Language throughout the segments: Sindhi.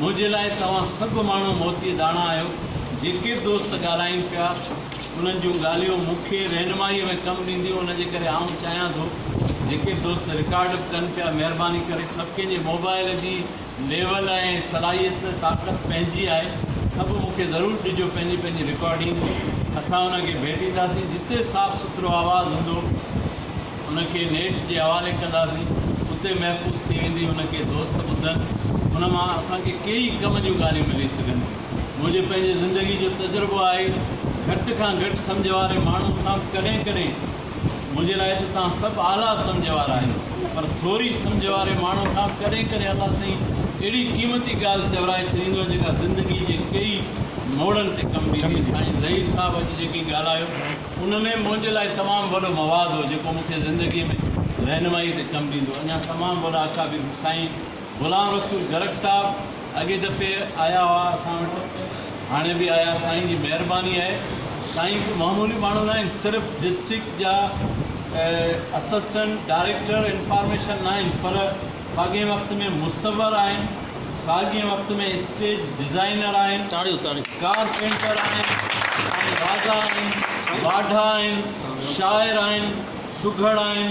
منهنجي لاء توهان سڀ ماڻهو موتي داڻا آهيو، جيڪي به دوست ڳالهائين پيا، انهن جون ڳالهيون مون کي رهنمائيء ۾ ڪم ڏينديون، ان جي ڪري آئون چاهيان ٿو جيڪي به دوست رڪارڊ به ڪن پيا، مهرباني ڪري سڀ ڪنهن جي موبائيل جي ليول ۽ صلاحيت طاقت پنهنجي آهي سڀ مون کي ضرور ڏجو پنهنجي پنهنجي رڪارڊنگ اسان ان کي ڀيٽينداسين جتي صاف سٿرو آواز هوندو ان کي نيٽ جي حوالي ڪنداسين اتي محفوظ ٿي ويندي ان کي دوست ٻڌن ان مان اسان کي ڪيئي ڪم جون ڳالهيون ملي سگهن ٿيون منهنجي پنهنجي زندگي جو تجربو آهي گهٽ کان گهٽ سمجهه واري ماڻهو کان ڪڏهن ڪڏهن منهنجي لاء ته توهان سڀ اعليٰ سمجهه وارا آهيو پر ٿوري سمجهه واري ماڻهو کان ڪڏهن ڪڏهن الله سائين اهڙي قيمتي ڳالهه چورائي ڇڏيندو آهي جيڪا زندگي جي ڪيئي موڙن تي ڪم بيهي ٿي سائين ظهير صاحب اڄ جيڪي ڳالهايو ان ۾ منهنجي لاء تمام وڏو مواد هو جيڪو مون کي زندگي ۾ رهنمائي تي ڪم ڏيندو اڃا تمام وڏا اڪابر سائين غلام رسول گرڪ صاحب اڳئي دفعي آيا هئا اسان وٽ هاڻي به آيا سائين جي مهرباني آهي سائين ڪو معمولي ماڻهو ناهن صرف ڊسٽرڪٽ جا اسسٽنٽ ڊائريڪٽر انفارميشن ناهن پر ساڳئي وقت ۾ مصور آهن ساڳئي وقت ۾ اسٽيج ڊزائينر آهن ڪارپينٽر آهن سائين راضا آهن واڍا آهن شاعر آهن سگهڙ آهن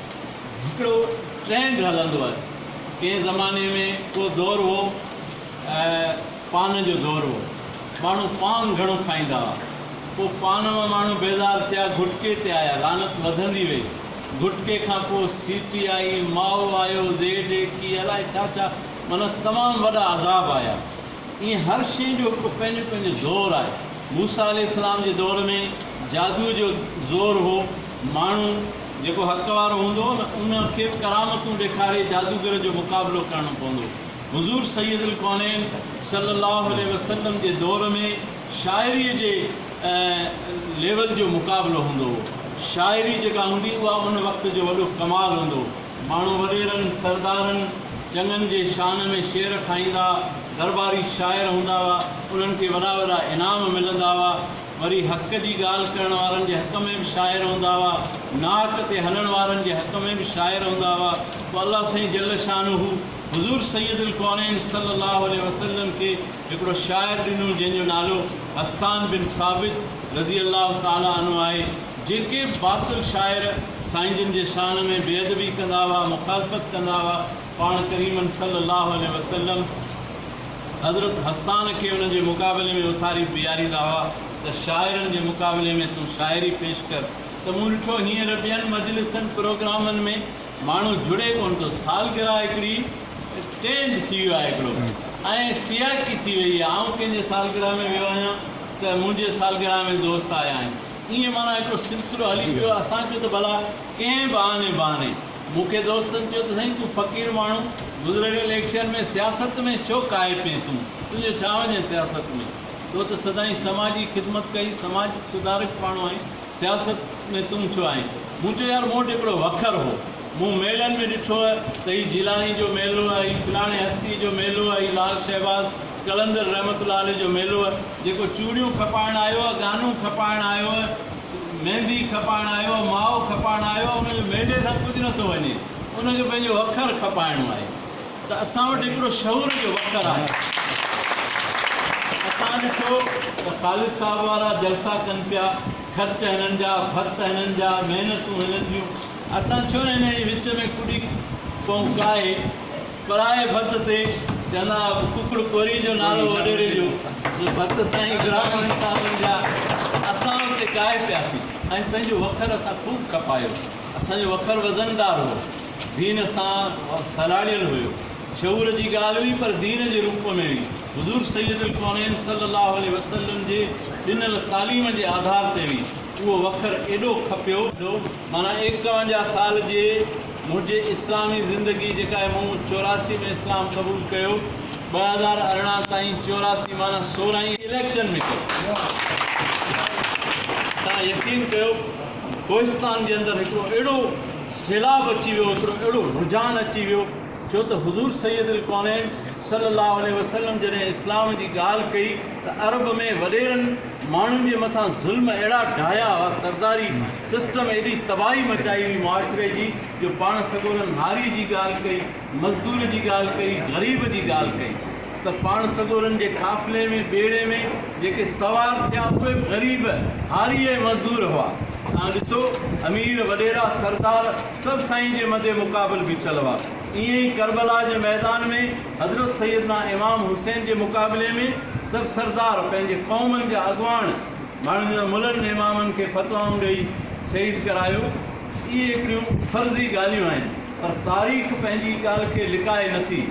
هڪڙو ٽرينڊ هلندو آهي ڪنهن زماني ۾ ڪو دور هو پان جو دور هو ماڻهو پان گهڻو کائيندا هئا پوء پان مان ماڻهو بيزار ٿيا گهٽڪي تي آيا لعنت وڌندي وئي گهٽڪي کان پوء سيٽي آئي مائو آيو زيڊ اي ڪي الائي ڇا ڇا معنيٰ تمام وڏا عذاب آيا ائين هر شيء جو هڪڙو پنهنجو پنهنجو دور آهي موسيٰ عليه السلام جي دور ۾ جادوء جو زور هو ماڻهو جيڪو حق وارو هوندو هو نه ان کي ڪرامتون ڏيکاري جادوگر جو مقابلو ڪرڻو پوندو هو. حضور سيد الڪونين صلي الله عليه وسلم جي دور ۾ شاعري جي ليول جو مقابلو هوندو هو. شاعري جيڪا هوندي اها ان وقت جو وڏو ڪمال هوندو هو. ماڻهو وڏيرن، سردارن، چڱن جي شان ۾ شعر ٺاهيندا، درباري شاعر هوندا هئا، انهن کي وڏا وڏا انعام ملندا هئا. وري حق جي ڳالهه ڪرڻ وارن جي حق ۾ به شاعر هوندا هئا، ناحق تي هلڻ وارن جي حق ۾ به شاعر هوندا هئا، پوء الله سائين جل شانه حضور سيد الڪونين صلي الله عليه وسلم کي هڪڙو شاعر ڏنو جنهن جو نالو حسان بن ثابت رضي الله تعالي عنه آهي، جيڪي به باطل شاعر سائين جن جي شان ۾ بي ادبي ڪندا هئا، مخالفت ڪندا هئا، پاڻ ڪريمن صلي الله عليه وسلم. حضرت حسان کي ان جي مقابلي ۾ اٿاري بيھاريندا ھئا ته شاعرن جي مقابلي ۾ تون شاعري پيش ڪر ته مون ڏٺو ھينئر ٻين مجلسن پروگرامن ۾ ماڻھو جڙي ڪونه ٿو سالگرھه ھڪڙي ٽرينڊ ٿي ويو آھي ھڪڙو ۽ سياقي ٿي ويئي آھي آئون ڪنھن جي سالگرھه ۾ ويو آھيان ته منھنجي سالگرھه ۾ دوست آيا آھن ائين معنيٰ ھڪڙو سلسلو ھلي پيو اسان چيو ته ڀلا ڪنھن بھاني بھاني مون کي دوستن چيو ته سائين تون فقير ماڻهو گذريل اليڪشن ۾ سياست ۾ ڇو ڪاهي پين تون تنهنجو ڇا وڃي سياست ۾ تو ته سدائين سماجي خدمت ڪئي سماج سڌارڪ ماڻهو آهين سياست ۾ تون ڇو آهين مون چيو يار مون وٽ هڪڙو وکر هو مون ميلن ۾ ڏٺو ته هي جيلاني جو ميلو آهي هي فلاڻي هستي جو ميلو آهي هي لال شهباز قلندر رحمت الله عليه جو ميلو آهي جيڪو چوڙيون کپائڻ آيو آهي گانون کپائڻ آيو آهي ميندي کپائڻ آيو آ، ماء کپائڻ آيو آ، ان جو مينديء سان ڪجهه نه ٿو وڃي، ان کي پنهنجو وکر کپائڻو آهي ته اسان وٽ هڪڙو شعور جو وکر آهي. اسان ڏٺو ته خالد صاحب وارا جلسا ڪن پيا، خرچ هنن جا، ڀت هنن جا، محنتون هنن جون، اسان ڇو نه هنن جي وچ ۾ ڪڏي پئون ڪاهي. پرائي ڀت تي جناب ڪڪڙ ڪوري جو نالو وڏيري جو سو ڀت سائين برهمڻ صاحبن جا اسان اتي ڪاهي پياسين ۽ پنهنجو وکر اسان خوب کپايو اسان جو وکر وزندار هو دين سان سلهاڙيل هيو شعور جي ڳالهه هئي پر دين جي روپ ۾ هئي حضور سيد الڪونين صلي الله عليه وسلم جي ڏنل تعليم جي آڌار تي هئي اهو وکر ايڏو کپيو معنيٰ ايڪاونجاهه سال جي منهنجي اسلامي زندگي جيڪا آهي مون چوراسي ۾ اسلام قبول ڪيو ٻه هزار ارڙهن تائين چوراسي معنيٰ سورهين اليڪشن ۾ ڪيو تان يقين ڪيو ڪوهستان جي اندر هڪڙو اهڙو سيلاب اچي ويو هڪڙو اهڙو رجحان اچي ويو ڇو ته حضور سيد الڪونين صلي الله عليه وسلم جڏهن اسلام جي ڳالهه ڪئي ته عرب ۾ وڏيرن ماڻهن جي مٿان ظلم اهڙا ڍايا هئا سرداري سسٽم ايڏي تباهي مچائي هئي معاشري جي جو پاڻ سڳورن هاري جي ڳالهه ڪئي، مزدور جي ڳالهه ڪئي، غريب جي ڳالهه ڪئي ته پاڻ سڳورن جي قافلي ۾ ٻيڙي ۾ جيڪي سوار ٿيا اهي به غريب، هاري ۽ مزدور هئا. تان ڏسو امير، وڏيرا، سردار سڀ سائين جي مد مقابل بيٺل هئا. ائين ئي ڪربلا جي ميدان ۾ حضرت سيدنا امام حسين جي مقابلي ۾ سڀ سردار پنهنجي قومن جا اڳواڻ، ماڻهن جن ملن امامن کي فتوائون ڏئي شهيد ڪرايو اهي هڪڙيون فرضي ڳالهيون آهن پر تاريخ پنهنجي ڳالهه کي لڪائي نٿي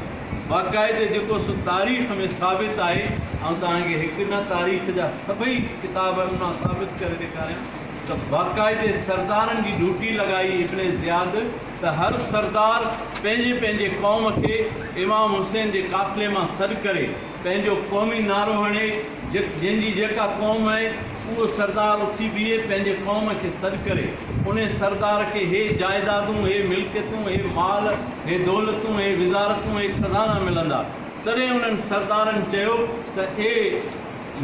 باقاعدي جيڪو سو تاريخ ۾ ثابت آهي آئون توهان کي هڪ نه تاريخ جا سڀئي ڪتابن مان ثابت ڪري ڏيکاريان ته باقاعدي سردارن جي ڊوٽي لڳائي ابن زياد ته هر سردار پنهنجي پنهنجي قوم کي امام حسين جي قافلي مان سڏ ڪري پنهنجو قومي نعرو هڻي، جنهن جي جيڪا قوم آهي، اهو سردار اٿي بيهي پنهنجي قوم کي سڏ ڪري، انهي سردار کي هي جائدادون، هي ملڪيتون، هي مال، هي دولتون، هي وزارتون، هي خزانا ملندا. تڏهن انهن سردارن چيو ته اي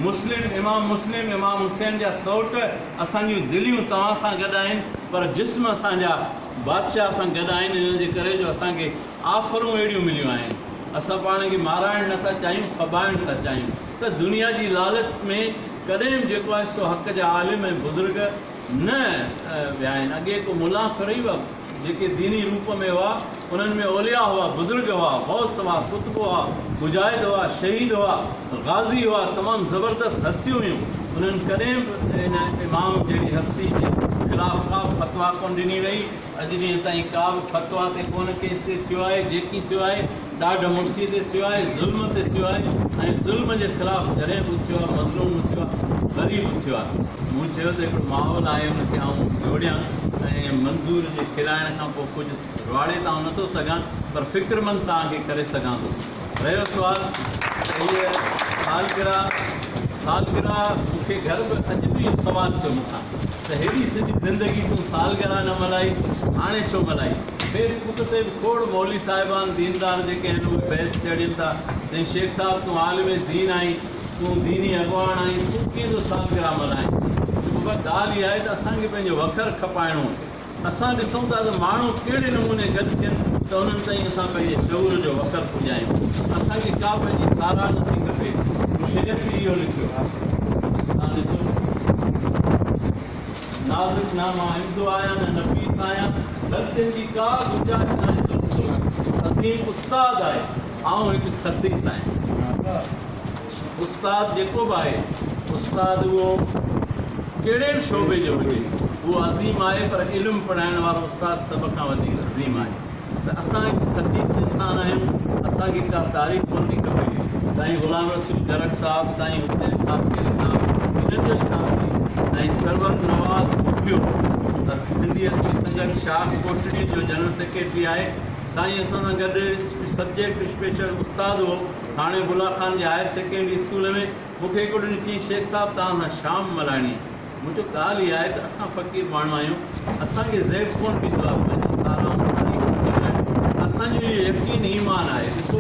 مسلم، امام مسلم، امام حسين جا سئوٽ، اسان جون دليون توهان سان گڏ آهن، پر جسم اسان جا بادشاهه سان گڏ آهن، ان جي ڪري جو اسان کي آفرون اهڙيون مليون آهن. اسان پاڻ کي مارائڻ نه ٿا چاهيون، ڦٻائڻ ٿا چاهيون ته دنيا جي لالچ ۾ ڪڏهن به جيڪو آهي سو حق جا عالم ۽ بزرگ نه ويا آهن. اڳي ڪو ملان ٿورئي هئا، جيڪي ديني روپ ۾ هئا، انهن ۾ اولياء هئا، بزرگ هئا، غوث هئا، قطب هئا، مجاهد هئا، شهيد هئا، غازي هئا، تمام زبردست هستيون هيون. انهن ڪڏهن به ان امام جهڙي هستي جي خلاف ڪا به فتويٰ ڪونه ڏني وئي. اڄ ڏينهن تائين ڪا به فتويٰ تي ڪونه ڪيس تي ٿيو آهي، جيڪي ٿيو آهي ڏاڍ مڙسي تي ٿيو آهي، ظلم تي ٿيو آهي ۽ ظلم جي خلاف جڏهن به اٿيو آهي مظلوم اٿيو آهي، غريب اٿيو آهي. مون چيو ته هڪڙو ماحول آهي ان کي آئون جوڙيان ۽ منظور جي کلائڻ کان پوء ڪجهه رواڙي ته آئون نٿو سگهان پر فڪرمند توهان کي ڪري سگهان ٿو. رهيو سوال ته هيء سالگرهه سالگرهه مون کي گهر به اڄ به اهو سوال ٿيو مون کان ته هيڏي سڄي زندگي تون سالگرهه نه ملهائي هاڻي ڇو ملهائي فيس بڪ تي به کوڙ مولوي صاحبان ديندار جيڪي آهن اهي بحث ڇيڙين ٿا ته شيخ صاحب تون عالم دين آهين تون ديني اڳواڻ آهين تون ڪنهن جو سالگرهه ملهائين ٿي چوبابا ڳالهه اها آهي ته اسان کي پنهنجو وکر کپائڻو اسان ڏسون ٿا ته ماڻهو ڪهڙي نموني گڏ ٿين ته انهن تائين اسان پنهنجي شعور جو وکر پڄايون. اسان کي ڪا پنهنجي ساراهه نه ٿي کپي. مون شير به اهو لکيو آهي. توهان ڏسو. نازڪ نه مان عمدو آهيان نه نفيس آهيان. غلطين جي ڪا گنجائش ناهي ته ڏسو. عظيم استاد آهي. آئون هڪ خسيس آهيان. استاد جيڪو به آهي استاد اهو ڪهڙي به شعبي جو هجي اهو عظيم آهي پر علم پڙهائڻ وارو استاد سڀ کان وڌيڪ عظيم آهي ته اسان هڪ خسيس انسان آهيون اسان کي ڪا تعريف ڪونه ٿي کپي سائين غلام رسول جرڪ صاحب سائين حسين خاصخيلي صاحب هنن جو ئي ساٿي ۽ سرور نواز مکيو سنڌي ادبي سنگت شاخ ڪوٽڙي جو جنرل سيڪريٽري آهي سائين اسان سان گڏ سبجيڪٽ اسپيشل استاد هو ٿاڻي بلا خان جي هائير سيڪنڊري اسڪول ۾ مون کي هڪ ڏنو چيائين شيخ صاحب توهان سان شام ملهائڻي آهي. مون چيو ڳالهه اها آهي ته اسان فقير ماڻهو آهيون اسان کي زيب ڪونه ڏيندو آهي پنهنجو سارام خالي ڪونه ڪندو آهي اسان جو اهو يقين ايمان آهي ڏسو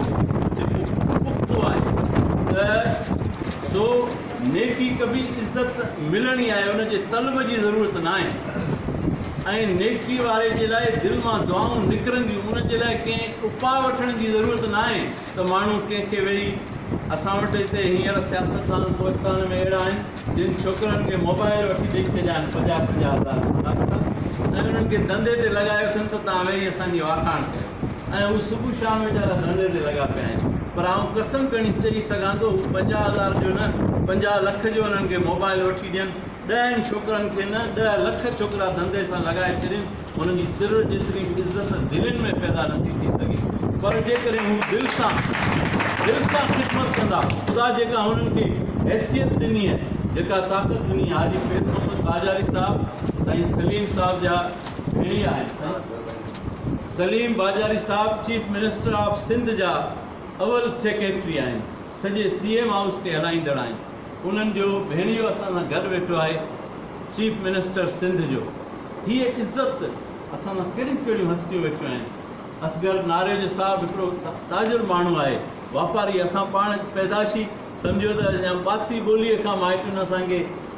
جيڪو پختو آهي ته سو نيڪي ڪبي عزت ملڻي آهي ان جي طلب جي ضرورت نه آهي ۽ نيڪي واري جي لاء دل مان دعائون نڪرنديون ان جي لاء ڪنهن اپاء وٺڻ جي ضرورت نه آهي. ته ماڻهو ڪنهن کي ويهي اسان وٽ هتي هينئر سياستدان ڪوهستان ۾ اهڙا آهن جن ڇوڪرن کي موبائل وٺي ڏئي ڇڏيا آهن پنجاهه پنجاهه هزار روپيا ۽ انهن کي ڌنڌي تي لڳايو اٿن ته توهان ويهي اسان جي واکاڻ ڪيو ۽ هو صبح شام ويچارا ڌنڌي تي لڳا پيا آهن پر آئون قسم کڻي چئي سگهان ٿو هو پنجاهه هزار جو نه پنجاهه لک جو انهن کي موبائل وٺي ڏين ڏهن ڇوڪرن کي نه ڏهه لک ڇوڪرا ڌنڌي سان لڳائي ڇڏين هن جي تر جيتري به عزت دلين ۾ پيدا نه ٿي ٿي سگهي پر جيڪڏهن هو دل سان دل سان خدمت ڪندا خدا جيڪا هنن کي حيثيت ڏني ۽ جيڪا طاقت ڏني حاجي پير محمد باجاري صاحب سائين سليم صاحب جا ڀيڻيا آهن سائين سليم باجاري صاحب چيف منسٽر آف سنڌ جا اول سيڪريٽري آهن سڄي سي ايم هائوس کي هلائيندڙ آهن انهن جو ڀيڻيو اسان سان گڏ ويٺو آهي چيف منسٽر سنڌ جو هي عزت اسان سان ڪهڙيون ڪهڙيون هستيون ويٺيون آهن اصغر ناريجو صاحب هڪڙو تاجر ماڻهو آهي واپاري اسان پاڻ پيدائشي سمجهيو ته يا ٻاتي ٻولي کان مائٽن اسان کي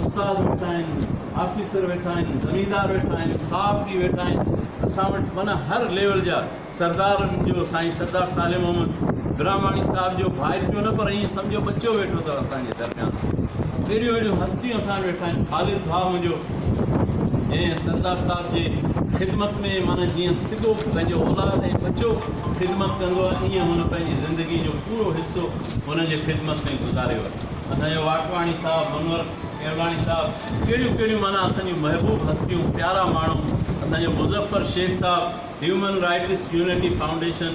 استاد ويٺا آهن، آفيسر ويٺا آهن، زميندار ويٺا آهن، صحافي ويٺا آهن، اسان وٽ معنيٰ هر ليول جا سردارن جو سائين سردار صالح محمد براهماڻي صاحب جو ڀائيٽيو نه پر ائين سمجهو ٻچو ويٺو اٿو اسان جي درميان اهڙيون اهڙيون هستيون اسان ويٺا آهن خالد ڀاء منهنجو جنهن سردار صاحب جي خدمت ۾ معنيٰ جيئن سڳو پنهنجو اولاد ۽ ٻچو خدمت ڪندو آهي ائين هن پنهنجي زندگي جو پورو حصو هن جي خدمت ۾ گذاريو آهي اسان جو واٽواڻي صاحب، منور ڪيولاڻي صاحب، ڪهڙيون ڪهڙيون معنيٰ اسان جون محبوب هستيون، پيارا ماڻهو، اسان جو مظفر شيخ صاحب، هيومن رائٽس يونٽي فائونڊيشن،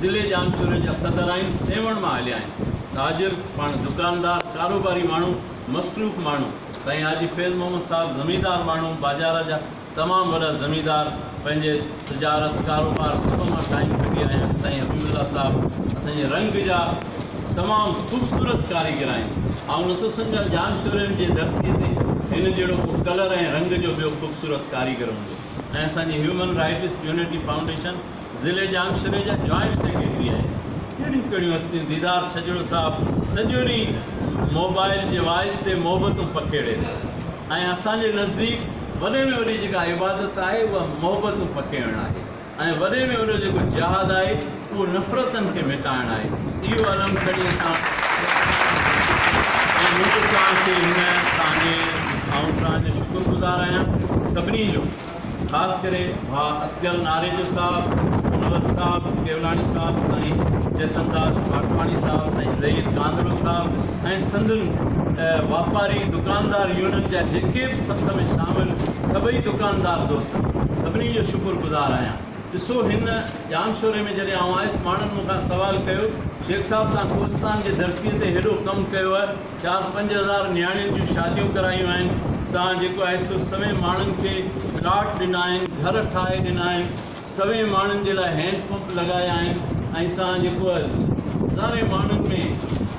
ضلعي ڄامشوري جا صدر آهن، سيوهڻ مان هليا آهن. تاجر، پاڻ دڪاندار، ڪاروباري ماڻهو، مصروف ماڻهو، سائين حاجي فيض محمد صاحب، زميندار ماڻهو، باجارا جا. تمام وڏا زميندار پنهنجي تجارت ڪاروبار سڀ مان ٺاهي ڪڍي آيا آهن سائين حبيب الله صاحب اسان جي رنگ جا تمام خوبصورت ڪاريگر آهن آئون نٿو سمجهان ڄام شورين جي ڌرتي تي هن جهڙو ڪو ڪلر ۽ رنگ جو ٻيو خوبصورت ڪاريگر هوندو ۽ اسان جي هيومن رائٽس يونٽي فائونڊيشن ضلعي ڄام شوري جا جوائنٽ سيڪريٽري آهن ڪهڙيون ڪهڙيون هستيون ديدار ڇڄڙو صاحب سڄو ڏينهن موبائل جي وائس تي محبتون پکيڙي ٿو. ۽ اسان جي نزديڪ وڏي ۾ وڏي جيڪا عبادت آهي اها محبتون پکيڙڻ آهي ۽ وڏي ۾ وڏو جيڪو جهاد آهي اهو نفرتن کي مٽائڻ آهي اهو علم کڻي اسان ۽ مون توسان کي هن تان جي آئون توهان جو شڪر گذار آهيان سڀني جو. خاص ڪري ڀاء اصغر ناريجو صاحب، منور صاحب ڪيولاڻي صاحب، سائين چيتن داس ماٽواڻي صاحب، سائين ظهير ڪانڌرو صاحب ۽ سندن واپاري دڪاندار يونين جا جيڪي به سٿ ۾ شامل سڀئي دڪاندار دوست سڀني جو شڪر گذار آهيان. ڏسو هن ڄامشوري ۾ جڏهن آئون آيس ماڻهن مون کان سوال ڪيو شيخ صاحب تان ڪوهستان جي ڌرتي تي هيڏو ڪم ڪيوء، چار پنج هزار نياڻين جون شاديون ڪرايون آهن تان جيڪو آهي سو سوين ماڻهن کي پلاٽ ڏنا آهن گهر ٺاهي ڏنا آهن سوين ماڻهن جي لاء هينڊ پمپ لڳايا آهن ۽ تان جيڪو آهي هزارين ماڻهن ۾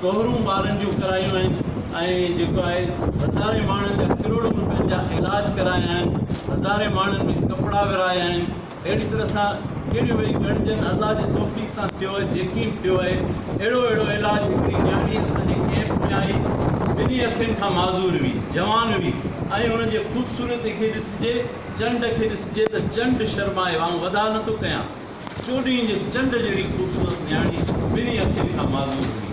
ڪهرون ٻارن جون ڪرايون آهن ۽ جيڪو آهي هزارين ماڻهن جا ڪروڙن روپين جا علاج ڪرايا آهن هزارين ماڻهن ۾ ڪپڙا ورهايا آهن اهڙي طرح سان ڪهڙيون ويهي ڳڻجن، الله جي توفيق سان ٿيو اهي جيڪي به ٿيو اهي اهڙو اهڙو علاج هڪڙي نياڻي اسان جي ڪيمپ ۾ آئي ٻنهي اکين کان معذور هئي جوان هئي ۽ ان جي خوبصورتي کي ڏسجي چنڊ کي ڏسجي ته چنڊ شرمائي وانگ وڌا نه ٿو ڪيان چوڏهين جي چنڊ جهڙي خوبصورت نياڻي ٻنهي اکين کان معذور هئي.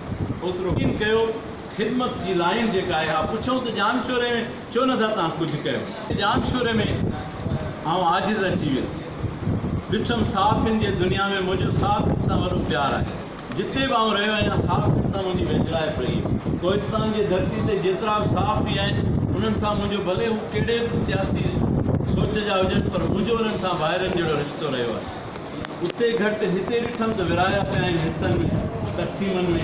اوترو ڪن ڪيو خدمت جي لائين جيڪا آهي اها پڇون ته ڄام شوري ۾ ڇو نه ٿا تان ڪجهه ڪيو ڄام شوري ۾ آئون عاجز اچي ويس ڏٺم صحافين جي دنيا ۾ منهنجو صحافين سان وڏو پيار آهي جتي به آئون رهيو آهيان صحافين سان منهنجي ويجهڙائپ رهي ڪوهستان جي ڌرتي تي جيترا به صحافي آهن انهن سان منهنجو ڀلي هو ڪهڙي به سياسي سوچ جا هجن پر منهنجو انهن سان ڀائرن جهڙو رشتو رهيو آهي. اتي گهٽ هتي ڏٺم ته ورهايا پيا آهن حصن ۾ تقسيمن ۾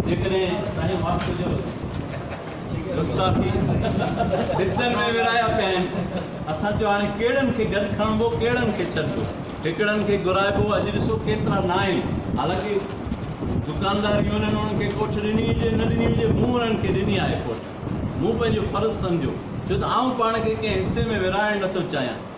جيڪڏهن سائين معاف ڪجو گستاخي حصن ۾ ورهايا پيا آهن اسان چيو هاڻي ڪهڙن کي گڏ کڻبو ڪهڙن کي ڇڏبو هڪڙن کي گهرائبو اڄ ڏسو ڪيترا نه آهن حالانڪه دڪاندار يونين انهن کي ڪوٺ ڏني هجي نه ڏني هجي مون انهن کي ڏني آهي ڪوٺ مون پنهنجو فرض سمجهيو ڇو ته آئون پاڻ کي ڪنهن حصي ۾ ورهائڻ نٿو چاهيان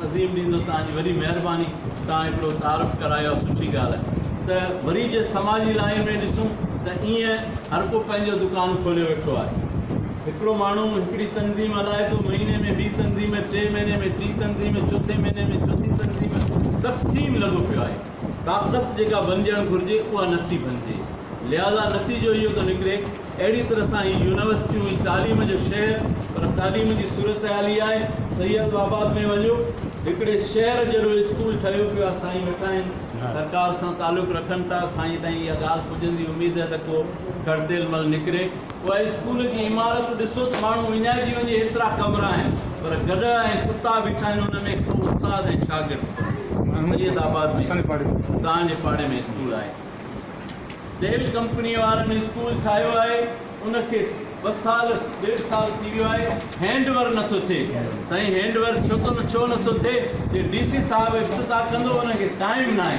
عظيم ڏينهن جو توهان جي وڏي مهرباني توهان هڪڙو تعارف ڪرايو آهي سٺي ڳالهه آهي ته وري جي سماجي لائين ۾ ڏسون ته ايئن هر ڪو پنهنجو دڪان کوليو ويٺو آهي هڪڙو ماڻهو هڪڙي تنظيم هلائي ٿو مهيني ۾ ٻي تنظيم ٽي مهيني ۾ ٽي تنظيم چوٿين مهيني ۾ چوٿين تنظيم تقسيم لڳو پيو آهي طاقت جيڪا بنجڻ گهرجي اها نٿي بنجي لهٰذا نتيجو اهو ٿو نڪري اهڙي طرح سان هي يونيورسٽيون هي تعليم جو شهر پر تعليم جي صورتحال هي آهي سيد آباد ۾ وڃو هڪڙي شهر جهڙو اسڪول ٺهيو پيو آهي سائين ويٺا آهن سرڪار سان تعلق رکن ٿا سائين تائين اها ڳالهه پڄندي اميد آهي ته ڪو گهڙتيل مل نڪري. اها اسڪول جي عمارت ڏسو ته ماڻهو وڃائجي وڃي ايترا ڪمرا آهن پر گڏهه ۽ ڪتا بيٺا آهن ان ۾ ڪو استاد ۽ شاگرد ڪونهي سيد آباد ۾ توهان جي پاڙي ۾ اسڪول آهي تيل ڪمپني وارن اسڪول ٺاهيو آهي ان کي ٻه سال ڏيڍ سال ٿي ويو آهي هينڊ ور نٿو ٿئي سائين هينڊ ور ڇو ٿو ڇو نٿو ٿئي جي ڊي سي صاحب افتتاح ڪندو ان کي ٽائيم ناهي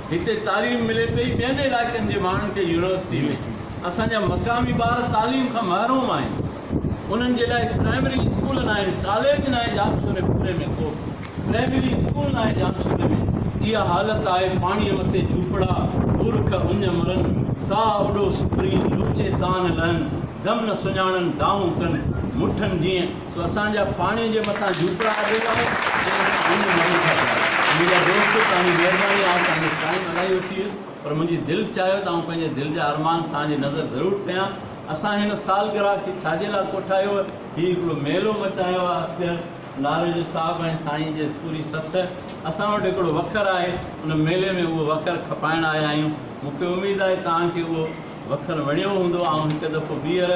هتي تعليم ملي پئي، ٻين علائقن جي ماڻهن کي يونيورسٽي ۾. اسان جا مقامي ٻار تعليم کان محروم آهن، انهن جي لاء پرائمري اسڪول ناهن، ڪاليج ناهي ڄامشوري پوري ۾ ڪو به پرائمري اسڪول ناهي ڄامشوري ۾ اها حالت آهي، پاڻيء مٿي جهوپڙا، بورک اڃ مرن، ساهه اڏو سپرين، لوچي تان نه لهن، دم نه سڃاڻن، دانهون ڪن مٺن جيئن. سو اسان جا پاڻي جي مٿان جهوپڙا اڏيل آهن ۽ اسان انهن ۾ مرون ٿا پيا. منهنجا دوستو توهان جي مهرباني آئون پنهنجو ٽائيم الائي وٺي ويس پر منهنجي دل چاهيو ته آئون پنهنجي دل جا ارمان توهان جي نظر ضرور ڪيان. اسان هن سالگرهه کي ڇا جي لاء ڪوٺايو آهي؟ هي هڪڙو ميلو مچايو آهي اصغر ناريجو صاحب ۽ سائين جي پوري سٿ. اسان وٽ هڪڙو وکر آهي ان ميلي ۾ اهو وکر کپائڻ آيا آهيون. مون کي اميد آهي توهان کي اهو وکر وڻيو هوندو آئون هڪ دفعو ٻيهر.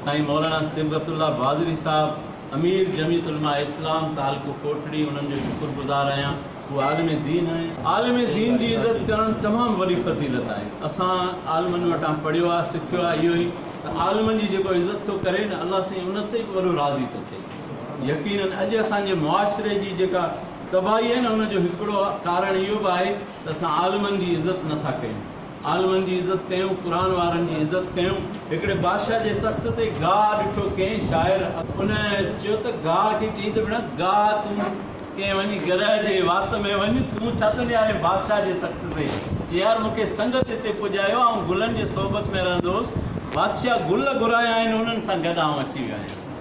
سائين مولانا صبغت الله بازري صاحب امير جمعيت علماء اسلام تعلقو ڪوٽڙي انهن جو شڪر گذار آهيان هو عالم دين آهن عالم دين جي عزت ڪرڻ تمام وڏي فضيلت آهي اسان عالمن وٽان پڙهيو آهي سکيو آهي اهو ئي ته عالمن جي جيڪو عزت ٿو ڪري نه الله سائين ان تي به وڏو راضي ٿو ٿئي يقينن اڄ اسان جي معاشري جي جيڪا تباهي آهي نه ان جو هڪڙو ڪارڻ اهو به آهي ته اسان عالمن جي عزت نٿا ڪيون عالمن جي عزت ڪيون، قرآن وارن جي عزت ڪيون. هڪڙي بادشاهه جي تخت تي گاهه ڏٺو ڪنهن شاعر اڳ. ان چيو ته گاهه کي چئي ته ڀيڻا گاهه تون ڪنهن وڃي گرهه جي وات ۾ وڃ تون ڇا ٿو نهارين بادشاهه جي تخت تي چي يار مون کي سنگت هتي پڄايو آئون گلن جي صحبت ۾ رهندو هوس بادشاهه گل گهرايا آهن انهن سان گڏ آئون اچي ويو آهيان.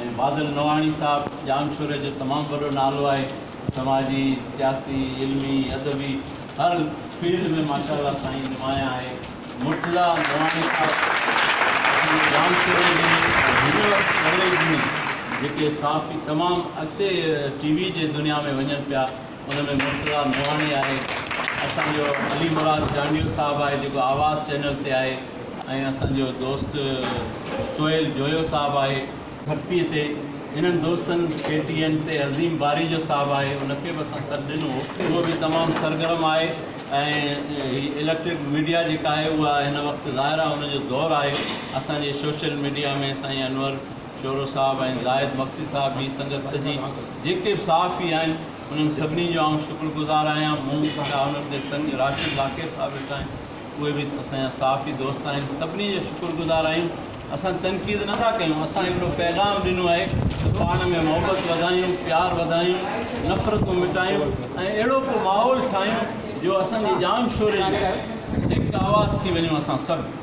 ۽ بادل نواڻي صاحب ڄامشوري جو تمام وڏو نالو آهي سماجي سياسي علمي ادبي هر فيلڊ ۾ ماشاء الله سائين نمايان آهي مرتضيٰ نواڻي صاحب اسان جي ڄامشوري جي هن وقت ڪاليج ۾ جيڪي صحافي تمام اڳتي ٽي وي جي دنيا ۾ وڃن پيا ان ۾ مرتضيٰ موهاڻي آهي، اسان جو علي مراد جانيو صاحب آهي جيڪو آواز چينل تي آهي ۽ اسان جو دوست سهيل جويو صاحب آهي ڀڳتي تي، انهن دوستن ڪي ٽي اين تي عظيم باريجو صاحب آهي ان کي به اسان سڏ ڏنو هو، اهو به تمام سرگرم آهي ۽ هي اليڪٽرڪ ميڊيا جيڪا آهي اها هن وقت ظاهر آهي ان جو دور آهي، اسان جي سوشل ميڊيا ۾ سائين انور. شورو صاحب ۽ زاهد مگسي صاحب جي سنگت سڄي جيڪي به صحافي آهن انهن سڀني جو آئون شڪر گذار آهيان مون وٽان انهن جي سنگ راشد لاکير صاحب وٽ آهن اهي به اسان جا صحافي دوست آهن سڀني جا شڪر گذار آهيون اسان تنقيد نه ٿا ڪيون اسان هڪڙو پيغام ڏنو آهي ته پاڻ ۾ محبت وڌايون پيار وڌايون نفرتون مٽايون ۽ اهڙو ڪو ماحول ٺاهيون جو اسان جي ڄام شوري جو هڪ آواز ٿي وڃون اسان سڀ